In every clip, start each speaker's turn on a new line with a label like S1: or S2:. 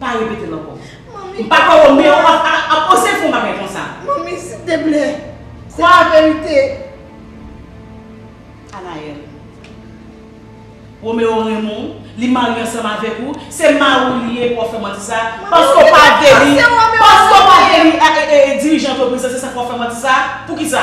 S1: Pa repetel ankò. Manmi. Mpa kwè ou menm ap oze fè yon bagay konsa. Manmi silteplè.
S2: Se la verite.
S1: Anaël. Roméo renmen w, li marye ansanm avèk ou, se mari w li ye pou wap fè manti sa, paske ou pa vle li, paske ou pa vle li dirijan antrepriz la se sak wap fè manti sa, poukisa?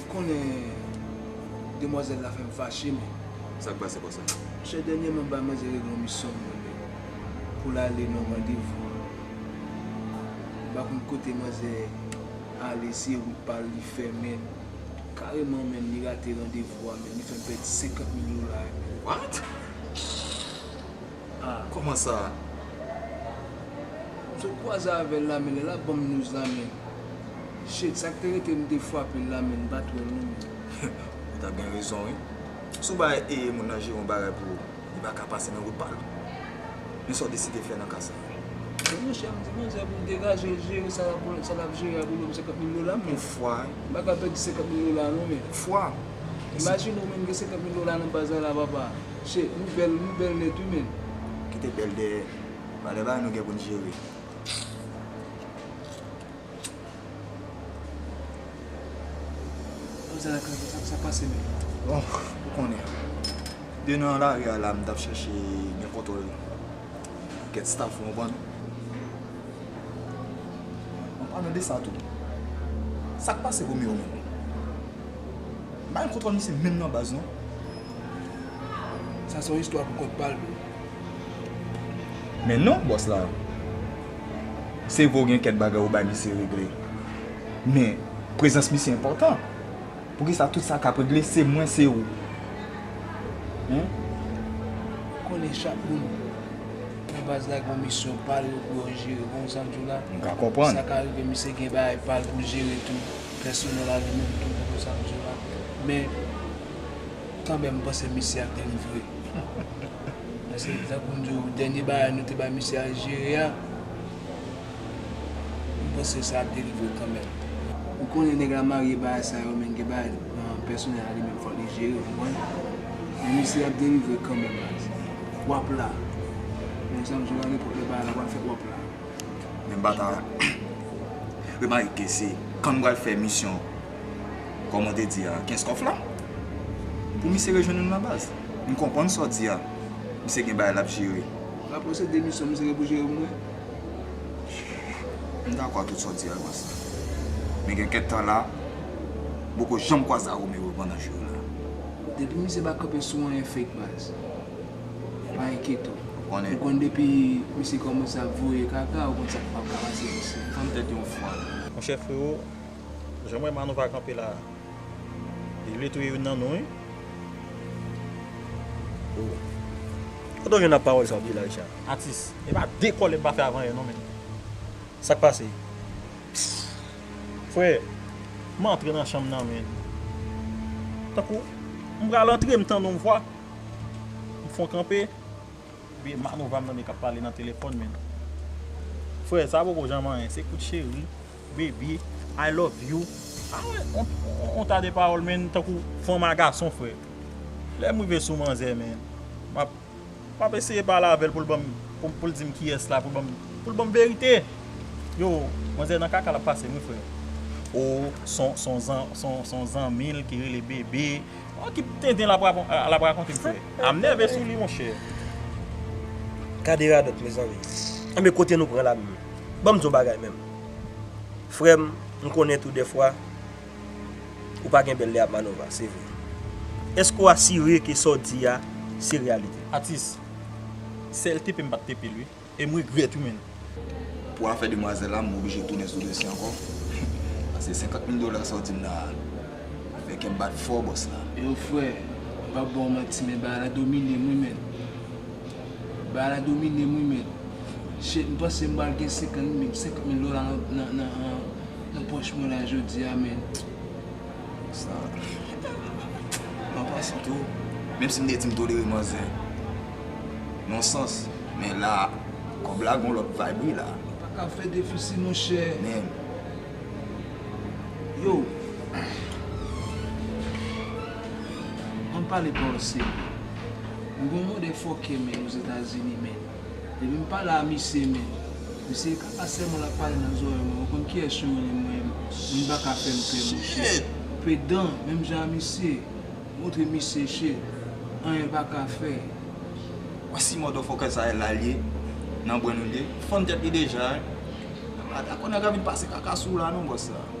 S3: Ou konnen demwazèl la fè m fache men. Sa k pase konsa?
S4: Monchè dènyèman m bay
S3: manzè règle yon misyon m ban li pou l ale nan randevou an. M pa konn kote manzè ale se wout pa l li fè men kareman menn li rate randevou a menn li fè m pèdi 50 mil dola yo menn. What?
S4: Ah kòman sa a.
S3: Msot kwaze avèl la men lè lap banm news la men Shit sak te rete m te fwapel la men m pat wèl non men. Ou ta gen
S4: rezon wi. Si w bay e moun nan jere yon bagay pou ou, li pa ka pase nan wout pa l. Men sa w deside fè nan ka sa a. Men monchè m
S3: di manzè pou l degaje l jere sa lap jere a pou l banm 50 mil dola m men. M pa ka pèdi
S4: 50
S3: mil dola non men.
S4: Imajine ou
S3: menm gen 50 mil dola nan baz la la papa. Che nou bèl nou bèl nèt wi menn. Kite bèl
S4: dèyè Valè bagay nou gen pou n jere
S3: Bon zara kanpe sa sa pase menm. Bon ou
S4: konnen de nan lari a la m tap chèche gen kontwòl kèt staff ou konprann An palan de sa tou sak pase Romeo menm Bay kontwòl misye menm nan baz non.
S3: Sa son istwa pou kont pal bro.
S4: Men non bòs la. Se vre ou gen kèk bagay ou bay misye regle. Men prezans misye enpòtan. Poukisa tout sa kap regle se mwen se ou. Hum. Ou
S3: konnen chak moun nan baz la gon misyon pal pou yo jere bon sa mdi w la. M ka konprann. Sa ka
S4: rive misye gen
S3: bagay pal poul jere tou. Pèsonèl a li menm tou konprann sa mdi w la. Men. Kanmèm m panse misye a grenn vre. Paske tankou m di w dènye bagay nou te bay misye al jere a, m panse sa a delivre kanmèm. Ou konnen nèg la marye bagay sa yo men gen bagay nan pèsonèl la li menm fòk li jere ou konprann. Men misye ap delivre kanmèm baz. W ap la. Menm sa m di w la nenpòt lè bagay la pral fèt w ap la. Men m pa ta
S4: remake se kan m pral fè misyon. Kòman w te di a, Kenskòf la? Pou misye rejwenn nou nan baz. M konprann sa w di a. Misye gen
S3: bagay l ap
S4: jere. M ap
S3: lanse demisyon. Misye
S4: gen pou
S3: jere pou mwen.
S4: M dakò ak tout sa w di a, Gwasa. Men gen kèk tan la, m poko janm kwaze ak Romero pandan jou yo la. Depi misye
S3: pa kanpe sou anyen fake baz, pa enkyete w. Ou konn depi
S4: misye
S3: kòmanse ap voye kaka, ou konn sa k ap pase misye. Tann tèt yon fwa.
S4: Monchè frero,
S5: Janm wè Manou pa kanpe la. Li vle touye youn nan nou wi.
S6: Oh. Kote w jwenn ap pawòl sa w di la Richard? Atis. E pa
S5: de kòlè m pa fè avan yè non menn. Sak
S6: pase? Pfff. Frè.
S5: M antre nan chanm nan menn. Tankou m pral antre m tande yon vwa. M fon kanpe. Ebyen Manou va m tande kap pale nan telefòn menn. Frè sa poko janm anyen se kout cheri. Baby I love you Ou ta de pawòl menn tankou fanm a gason frè Lè m rive sou manzè menn M ap eseye pale avè l pou l ban m pou l di m kiyès la pou l ban m verite Yo manzè nan kaka l ap pase m wi frè Ou son zanmi l ki rele Bebe Ou ki tenten l ap rakonte m frè A m nève sou li monchè Gade
S6: radòt mezanmi Enben kote nou pran la menm Ban m di w yon bagay menm Frèm m konnen tou dèfwa ou pa gen bèl lè ap Manova se vre. Eske ou asire ke sa w di a se reyalite? Atis,
S5: sèl tepe m pat tepe l wi, e m regrèt wi menn. Pou
S4: afè demwazèl la m oblije tounen sou dosye ankò pase 50 mil dola sa w di m la fè kè m bat fò bòs la. Yo frè, m
S3: pap ba w manti men bagay la domine m wi menn. Bagay la domine m wi mèt. Shit m panse m pral gen 50 mil 50 mil dola nan pòch mwen la jodi a men
S4: sa m pa panse tou. Menm si m te di m tolere manzè non sans men la kòb la gon lòt vibe wi la. M pa kab fè defisi
S3: monchè. Menm. Yo An pale pawòl serye. M gon mode fòkè menn ozetazini menn depi m pale a misye menn misye e kaka sèlman lap pale nan zòrèy mwen mwen konn kiyès yo rele mwen moun paka fèm pè monchè pedan menm jan a misye montre misye che anyen paka fè. Bon
S4: si mòdòfòkè sa e la l ye nan bwenn ou l ye fann tèt li deja e mwen pa dakò nèg ap vin pase kaka sou w la non bòs sa.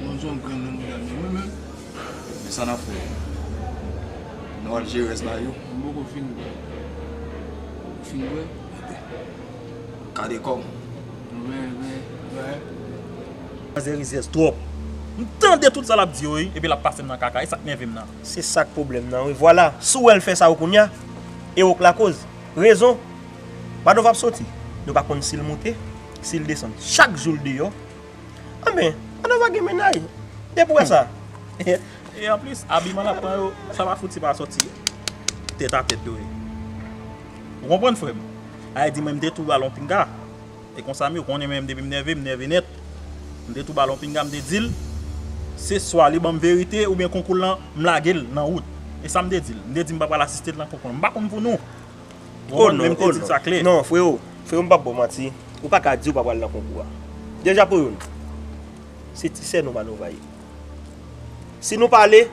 S3: Moun son grenn nan mouda men mwen menm. Men sa nap
S4: fè Nou al jere res la yo. Mwen poko fin bwe.
S3: Ou fin bwe? Ebyen.
S4: Kade kow. Mwen
S3: veye veye
S6: veye. Manzè rizyèz twòp. M tande tout
S5: sa lap di yo wi epi lap pasem nan kaka esak nèvem nan. Se sak pwoblèm nan
S6: wi vwala si w wè l fè sa yo kounya e ok lakoz rezon Madoff ap soti nou pa konn si l moute si l desann chak jou l deyò Anben, an nou va gen mennaj. Depi wè sa. E
S5: anplis, abiman l ap pran yo, sa pa fouti pa soti tèt a tèt dwe. Ou konprann frè m? A e di mwen m te tou ba l yon pinga. E konsa m ye, ou konnen mwen depi m nève, m nève nèt. M te tou ba l yon pinga, m te di l, se swa li ban m verite oubyen konkou l lan, m lage l nan wout. E sa m te di l. M te di m pa pral asiste l nan konkou l lan. M pa konn pou nou. Oh
S6: non, oh
S5: non, non
S6: freo,
S5: freo
S6: m'pap baw manti, ou pa ka di ou pa pral nan konkou a. Deja pou youn, se ti sè nou Manova ye. Si nou pa ale,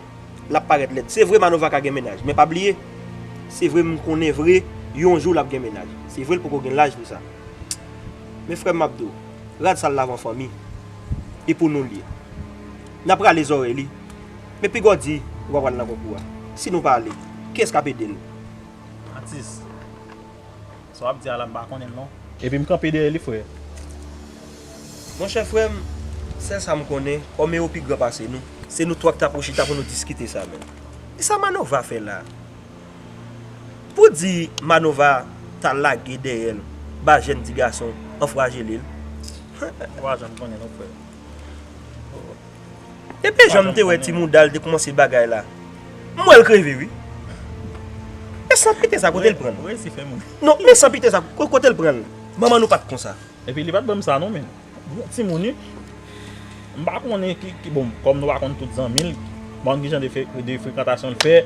S6: l'ap parèt lèd. Se vre Manova ka gen mennaj, men pa bliye, se vre m'konnen vre yon jou l'ap gen mennaj. Se vre l'poko gen laj pou sa. Men frèm m'ap di'w, rad sal lavan fanmi, e pou nou l'ye. N'ap rale zòrèy li, men pigaw di ou pa pral nan konkou a. Si nou pa ale, kiyès k'ap ede'l? Atis.
S5: Sa wap di a la m pa konnen l non. Epi m kanpe dèyè li frè.
S6: Monchè frè m, sèl sa m konnen, kòm ewo pi gran pase nou. Se nou twa k ta pou chita pou nou diskite sa menm. E sa Manova fè la? Pou di Manova ta lage dèyè l ba jèn ti gason anfwajele l? Ou
S5: pa janm konnen non frè.
S6: Epi janm te wè ti moudal te koumanse bagay la m wèl kreve wi e san pite sa kotel pranl non
S5: men san pite sa
S6: kotel pranl manman nou pat konsa. Epi li pat banm sa
S5: non men bon timoun wi m pa konnen ki bon kòm nou pa konn tout zanmil m pa konn kijan de frekantasyon l fè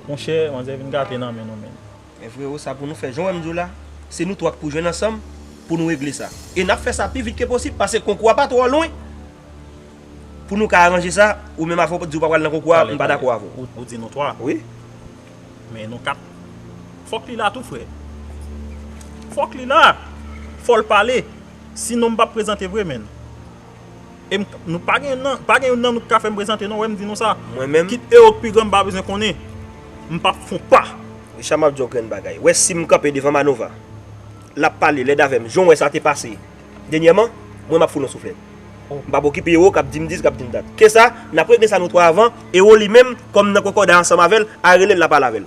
S5: monchè manzè vin gate nan men nou menn. Men freo sa
S6: pou nou fè jan wèm diw la se nou 3 k pou jwenn ansanm pou nou regle sa e nap fè sa pi vit ke posib pase konkou a pa twò lwen pou nou ka aranje sa ou menm avè w di w pa pral nan konkou a m pa dakò avè w. Ou di nou 3 wi men
S5: nou 4 fòk li la tou frè fòk li la fòl pale si non m pap prezante vre menn E m Nou pa gen nan Pa gen youn nan nou ki ka fè m prezante non Wè m di nou sa Mwen menm Kit Ero k pi
S6: gran m pa
S5: bezwen konnen M p ap fon pa. Richard m ap di w yon grenn
S6: bagay Wè si m kanpe devan Manova L ap pale lèd avè m Jan w wè sa te pase Dènyèman Mwen m ap foul yon souflèt M p ap okipe Ero k ap di m dis k ap di m dat Ke sa N ap regle sa nou twa avan Ero li menm Kòm m nan kòkòday ansanm avè l A rele l la pale avè l.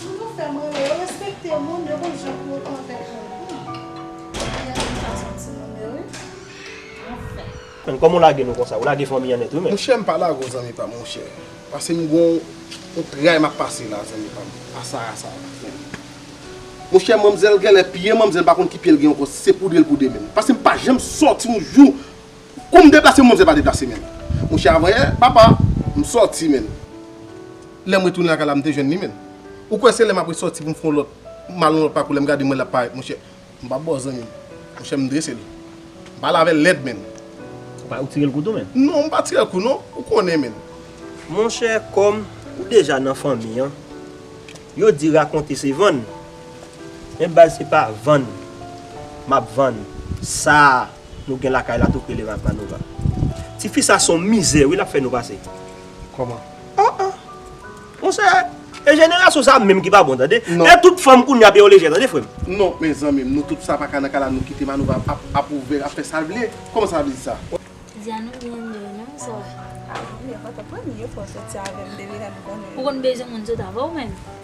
S7: Toujou fèm ri yo respekte moun yo konn jan pou yo
S6: konvèt moun anfen m renmen fason timoun yo wi anfen. Menn kòman ou lage nou konsa ou lage fanmi an nèt wi menn. Monchè m pa lage w zanmi
S3: pam monchè pase m gon yon tray map pase la zanmi pam a Sarah sa pa fè ri monchè manmzèl genlè pye manmzèl m pa konn ki pye l gen ankò si se poudre l poudre menn pase m pa janm sòti yon jou Kou m deplase mwen se pa deplase menm. Monchè avanyè papa m sòti menm. Lè m retounen lakay la m te jwenn li menm. Ou kwè se lè m ap resòti pou m fè yon lòt m al yon lòt pakou lè m gade mwen l ap parèt monchè m pa bo zanmi m. Monchè m drese l. M pa lave l lèd menm. Ou pa ou tire
S6: l kou tou menm? Non m pa tire l kou non.
S3: Ou konnen menm. Monchè
S6: kòm ou deja nan fanmi an yo di rakonte se vann men baz se pa vann m ap vann sa a. Nou gen lakay la tou k rele Razmanova. Ti fi sa son mizè wi lap fè nou pase. Koman?
S3: Oh oh!
S6: Monchè, e jenerasyon sa menm ki pa bon tande. Non. E tout fanm kounya
S3: ap gen yon
S6: lejè tande frè m. Non men zanmi m,
S3: nou tout sa pa ka nan kay la nou kite Manova ap ap ouvè, ap fè sa l vle? Koman sa vle di sa? Diane ou byen ri wi non sa. Ah non li enpòtan
S8: pou mwen
S7: li enpòtan ti avèm depi lèm konnen. Ou konn bezwen moun
S8: sot avèw menm?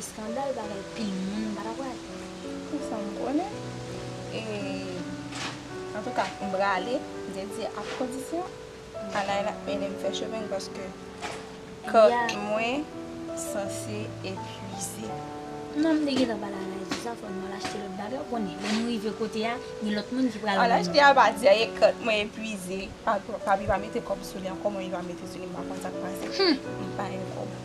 S8: Eskandal bagay pil moun pa dakwe. Pou sa m
S7: konnen e antouka m prale dedye ak kondisyon Anay la ede m fè chemen l paske kò mwen sanse
S8: epuize. Non
S7: m te gentan
S8: pale Anay sou sa fò nou al achte lòt bagay ou konnen lè nou rive kote a gen lòt moun ki pral. Al achte a pa di anyen
S7: kò mwen epuize papi pa mete kòb sou li ankò mwen li pa mete sou li m pa konn sa k pase m pa gen kòb.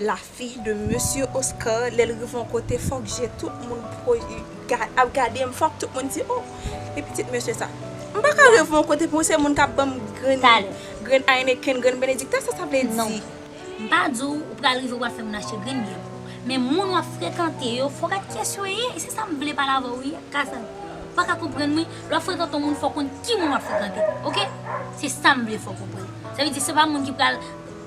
S7: La fille de mesye Oscar lèl rive yon kote fòk je tout moun ap gadem fòk tout moun di oh e pitit mesye sa m paka rive yon kote pou se moun kap banm grenn Heineken grenn Benedicta sa sa vle di non m pa di w
S8: ou pral rive wap fè moun achte grenn byè pou ou men moun wap frekante yo fòk ak kyès yo ye e se sa m vle pale avè w wi Cassandre fòk ak konprann mwen lè wap frekante yon moun fòk konn ki moun wap frekante ok se sa m vle fòk konprann sa vle di se pa moun ki pral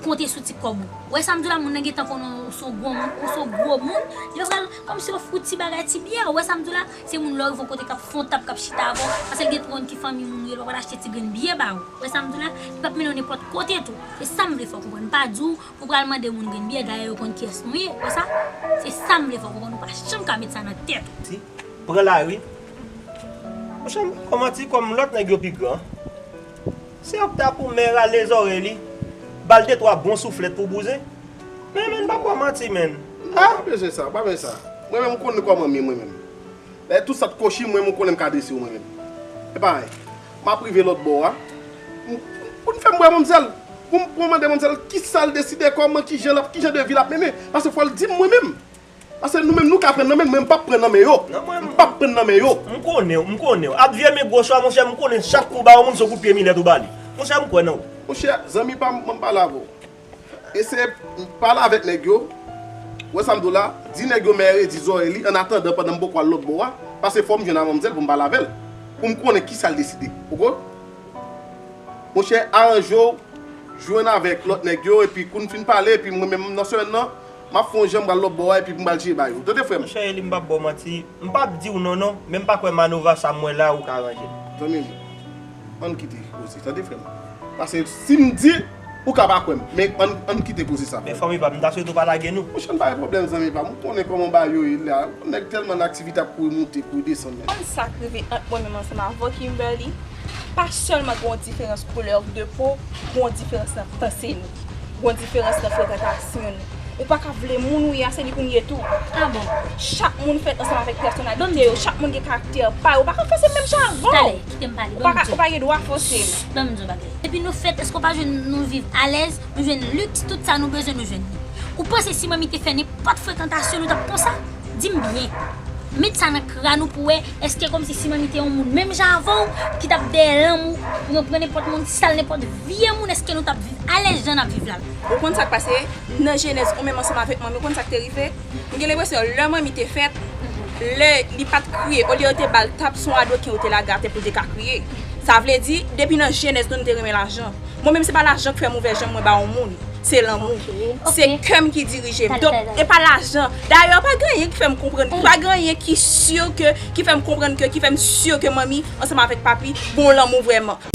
S8: konte sou ti kòb ou wè sam diw la moun nan gentan konnen ou son gwo moun ou son gwo moun yo pral kòmsi yo fout ti bagay ti byè ou wè sam diw la se moun lè ou rive yon kote kap fè yon tab kap chita avèw pasel gen twòn ki fanmi moun yo lè ou al achte ti grenn byè ba ou wè sam diw la li pap mennen ou nenpòt kote tou se sam vle fèw konprann mpa diw pou pral mande moun grenn byè dayè yo konn kiyès nou ye ou wè sa se sam vle fèw konprann ou pa janm ka met sa nan tèt ou. Ti pran
S6: lari monchè kòman ti kòm lòt nèg yo pi gran. Se yon pta pou mè rale zòrey li bal de twa bon souflèt pou bouzen men menn pap bò manti menn ah. Pa bezwen sa pa
S9: bezwen sa mwen menm ou konn kòmanm ye mwen menm lè tout sat kochim mwen menm ou konnenm ka dressew mwen menm epa anyen map rive lòt bò a poun fèm wè manmzèl poum mande manmzèl kisal deside kòman kijan lap kijan de vi lap mennen paske fòl dim mwen menm. Pase nou menm nou ka pran nan men mwen mpap pran nan men yo mpap pran nan men yo. M konnenw m konnenw
S6: ak vye men goch la monchè m konnen chak kou ba yon moun son kout pye milèt ou bali monchè m kwè nan ou. Monchè zanmi
S9: pam banm pale avèw eseye pale avèk nèg yo ou wè sam diw la di nèg yo mèye redi zòrèy li an atandan pandan m poko al lòt bò a pase fòm jwenn a manmzèl poum pale avèl poum konnen kisal deside ok monchè aranjew jwenn avèk lòt nèg yo epi koun fin pale epi mwen menm nan semèn nan Map fon jan m pral lòbò a epi m pral tiye Bayo. Tande frè m. Monchè Eli m pap baw manti,
S6: m pap diw non non, men m pa kwè Manova sa m wè la ou ka ranje l. Zanmi m,
S9: ann kite koze tande frè m. Pase si m di, ou ka pa kwè m, men ann kite koze sa frè m. Men fanmi pa m, m ta swete ou
S6: pa lage nou. Monchè m pa gen pwoblèm zanmi
S9: pa m, ou konnen kòman Bayo ye la, nèg tèlman nan aktivite ap kouri moute, kouri desann men. Ou konn sak rive
S7: ant mwen menm ansanm avw Kimberly? pa sèlman gen yon diferans koulè de po, gen yon diferans nan panse nou, gen yon diferans nan frekantasyon nou. Ou pa ka vle moun ou ye a se li pou m ye tou. Ah bon?
S8: Chak moun fèt
S7: ansanm avèk pèsonalite yo, chak moun gen karaktè pa yo. Ou pa ka fòse m menm jan avè w. Tale, kite m pale, ban m
S8: di w. Ou pa gen dwa fòse
S7: m. Ban m di w yon bagay.
S8: Depi nou fèt, èske w pa jwenn nou viv alèz, nou jwenn liks, tout sa nou bezwen nou jwenn li? Ou panse si manmi te fè nenpòt frekantasyon nou t ap konsa? Dim byen. Met sa nan kran ou pou wè eske komsi Simani te yon moun menm jan avèw ki tap dèyè lanmou pou yon pran nenpòt moun sal nenpòt vye moun eske nou tap viv alèz jan nap viv la menm. Ou konn sak pase
S7: nan jenèz ou menm ansanm avèk manmiw ou konn sak te rive m gen lenpresyon lè manmi te fèt lè li pat kriye olye yo te bal tap son adoken yo te lage atè poul te ka kriye sa vle di depi nan jenèz nou nou te renmen lajan Mwen menm se pa lajan k fèm ouvè jem mwen ba yon moun se lanmou se kèm ki dirijem donk e pa lajan dayè pa gen anyen ki fèm konprann pa gen anyen ki si ke ki fèm konprann ke ki fèm si ke manmi ansanm avèk papi pou yon lanmou vrèman.